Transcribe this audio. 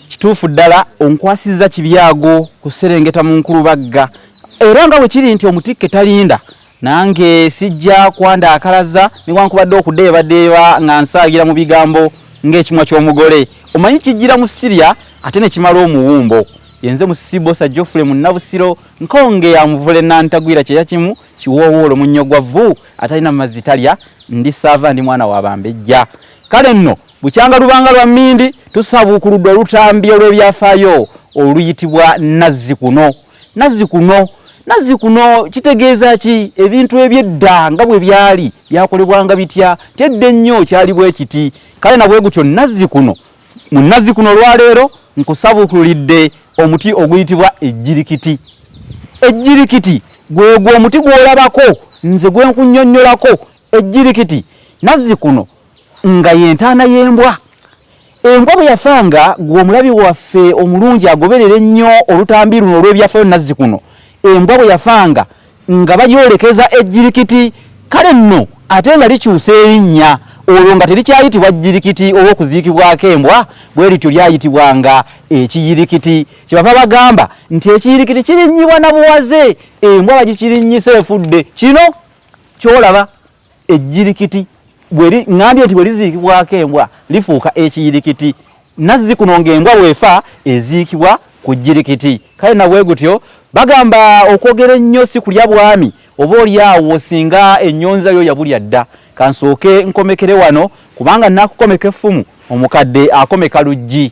kituufu ddala onkwasizza kibyago kuserengeta mu nkulubagga era nga bwe kiri nti omutikke talinda nange sijja kwanda akalaza newankubadde okudeebadeeba nga nsaagira mu bigambo ng'ekimwa ky'omugole omanyi kijjira mu sirya ate ne kimala omuwumbo yenze musibosa jofule munnabusiro nkonge ya muvule nantagwira kyeya kimu kiwoowoolo munnyo gwa vvu atalina mazzi talya ndi saava ndi mwana wa bambejja Kale nno bukyanga lubanga lwa mmindi tusabuukuludde olutambi olw'ebyafaayo oluyitibwa Nazzikuno. Nazzikuno nazzi kuno kitegeeza ki ebintu ebyedda nga bwe byali byakolebwanga bitya nti edda ennyo kyaliwo ekiti kale nabwe gutyo nazzi kuno mu nazzi kuno olwaleero nkusabukulidde omuti oguyitibwa ejjirikiti ejjirikiti gwegwo omuti gwolabako nze gwenkunyonnyolako ejjirikiti nazzi kuno nga yentaana y'embwa embwa bwe yafa nga gwe omulabi waffe omulungi agoberera ennyo olutambi luno olw'ebyafayo nazzi kuno embwa bwe yafa nga nga bagyolekeza ejjirikiti kale nno ate nga likyusa erinnya olwo nga terikyayitibwa jjirikiti olw'okuziikibwako embwa bwe lityo lyayitibwanga ekiyirikiti kyebava bagamba nti ekiyirikiti kirinnyibwa na buwaze embwa bagikirinnyisa efudde kino kyolaba ejjirikiti bweri ngambye nti bweriziikibwako embwa lifuuka ekiyirikiti nazzi kuno ng'embwa bwefa eziikibwa ku jirikiti kale nabwe gutyo bagamba okwogera ennyo si kulya bwami oba oli awo singa ennyonza yo yabulya dda kansooke nkomekere wano kubanga nakukomeka effumu omukadde akomeka luggi